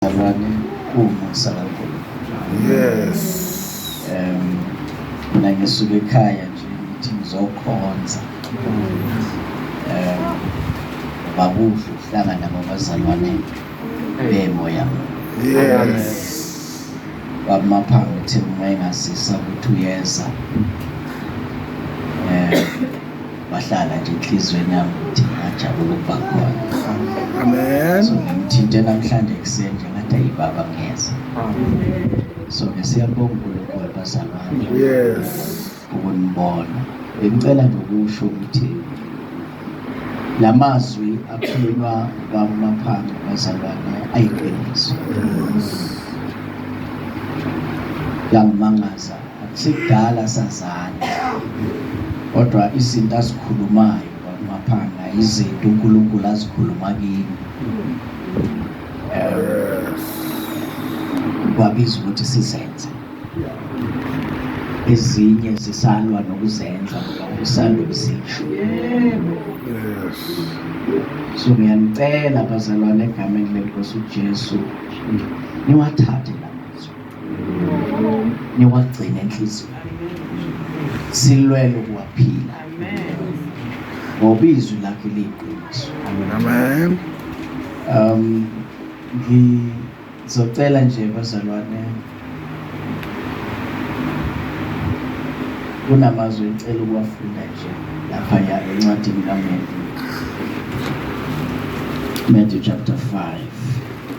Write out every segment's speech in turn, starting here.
Abanye umusa kaNkulunkulu. Yes. Um mina ngisuka ekhaya nje ngithi ngizokhonza. Um bakuhle ukuhlangana ngabazalwane bemoya. Yes. Bamaphambi ukuthi uma engasisa ukuthi uyeza. Um Wahlala nje enhliziyweni yami ukuthi ngajabula ukuba khona. Amen. So ngimthinte namhlanje ekuseni nje ngathi ayi baba ngiyeza. So ke siyabonga uNkulunkulu bazalwane Yes. ukunibona. Bengicela nje ukusho ukuthi la mazwi akhulunywa kwamaphansi bazalwane ayiqiniso. Yangimangaza Akusibdala sazana kodwa izinto azikhulumayo kwakumaphanga izinto uNkulunkulu azikhuluma kimi kwabiza ukuthi sizenze ezinye zisalwa nokuzenza usanda ukuzisho so ngiyanicela bazalwane egameni lenkosi ujesu niwathathe niwagcine enhliziyweni silwele ukuwaphila ngoba izwi lakhe liyiqiniso amen um ngizocela nje bazalwane kunamazwi engicela ukuwafunda nje lapha ya encwadini kaMendi Matthew chapter 5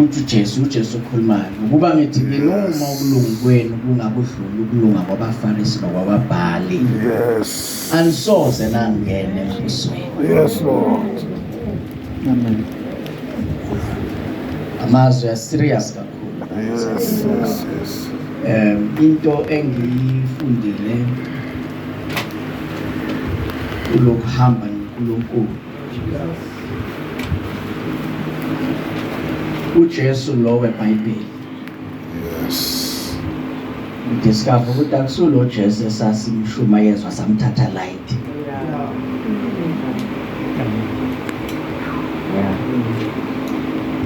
uthi Jesu uJesu ukhulumayo ukuba ngithi nginoma ukulunga kwenu kungakudlula ukulunga kwabaFarisi nokwababhali yes anisoze nangene embusweni yes lord amen amazwi ya serious kakhulu yes yes yes um into engiyifundile kulokuhamba noNkulunkulu uJesu lo weBhayibheli yes discover ukuthi akusulo Jesu esasimshumayezwa samthatha light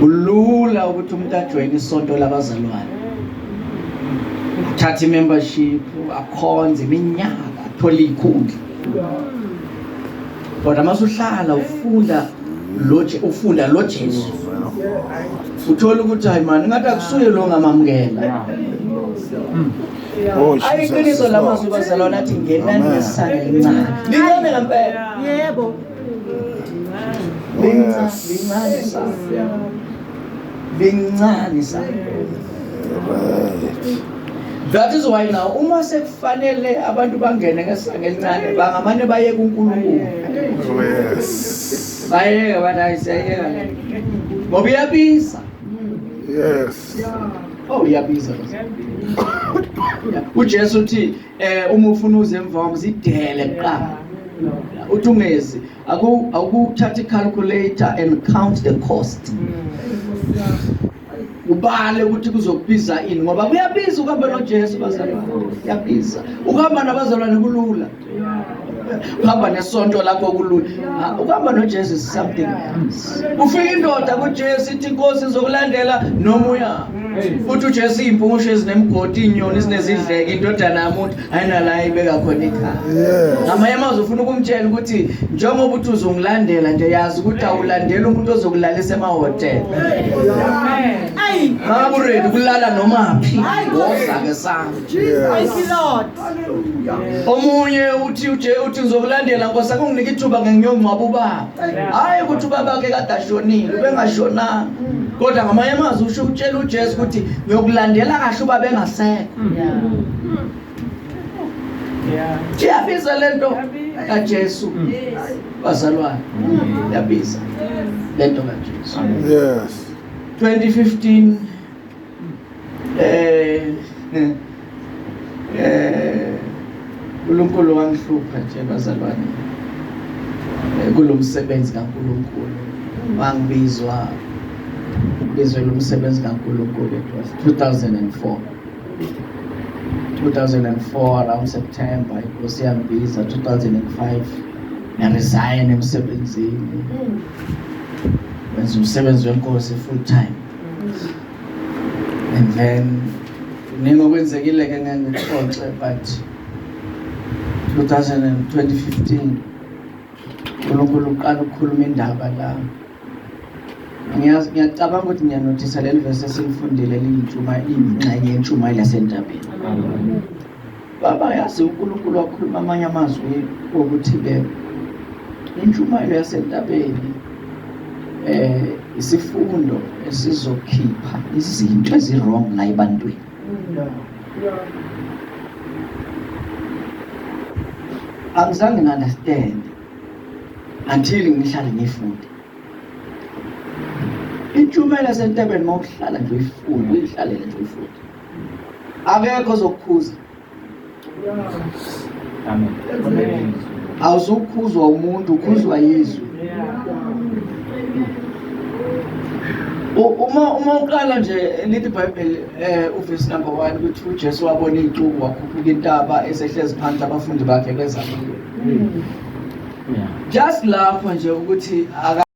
kulula ukuthi umuntu ajoyine isonto labazalwane athathe imembership akhonze iminyaka athole ikhundla kodwa uma usuhlala ufunda lo ufunda lo Jesu uthola ukuthi hayi mani ngathi akusuye lo ngamamukela Oh, ayiqiniso la mazwi bazalwana athi ngenani ngesisane lincane lincane ngempela yebo lincane lincane lincane that is why now uma sekufanele abantu bangene ngesanga elincane bangamane baye kuNkulunkulu yes bayeke abantu ayiseyeka ngoba iyabiza yes oh iyabiza uJesu uthi eh uma ufuna uze emva kwami zidele kuqala uthi ungezi awukuthatha i-calculator and count the cost ubale ukuthi kuzokubiza ini ngoba kuyabiza ukuhamba nojesu bazalwane kuyabiza ukuhamba nabazalwane kulula uhamba nesonto lakho kulula ah, ukuhamba nojesu is something else ufika indoda kujesu ithi inkosi izokulandela noma uya futhi ujesu iyimpungushi ezinemgodi inyoni ezinezidleke indodana yamuntu ayinala ibeka khona ikhaya ngamanye amazwi ufuna ukumtshela ukuthi njengoba uthi uzongilandela nje yazi ukuthi awulandela umuntu ozokulalisa emahotela maburedi kulala noma phi wozake sami omunye uthi uje uthi ngizokulandela nkosi akunginike ithuba ngengiyongcwaba ubaba hhayi ukuthi ubabakhe kade ashonile ubengashonanga kodwa ngamanye amazwi usho ukutshela ujesu ukuthi ngiyokulandela kahle uba bengasekho Iyabizwa le nto kaJesu bazalwane, iyabiza le nto kaJesu. Yes. 2015 eh eh uNkulunkulu wangihlupha nje bazalwane eh, kulomsebenzi kaNkulunkulu wangibizwa Ngizwela umsebenzi kaNkulunkulu. It was 2004. 2004 around September inkosi yangibiza 2005 ngaresign emsebenzini wenza umsebenzi wenkosi full time and then kuningi okwenzekile ke ngeke ngikuxoxe but 2015 uNkulunkulu uqala ukukhuluma indaba la ngiyacabanga ukuthi ngiyanothisa leli vese esilifundile liyintshuma ingxenye yentshumayelo yasentabeni baba yazi unkulunkulu wakhuluma amanye amazwi okuthi ke intshumayelo yasentabeni eh isifundo esizokhipha izinto ezirong la ebantwini angizange ngandastand until ngihlale ngifunde intshumayelo yasentabeni uma uhlala nje uyifunde uyihlalele nje uyifunde akekho ozokukhuza awuzukhuzwa umuntu ukhuzwa yizwe uma uma uqala nje lithi ibhayibheli um eh, uvesi number one ukuthi ujesu wabona iy'cuku wakhuphuka intaba esehlezi phansi abafundi bakhe bezamile Just lapho nje ukuthi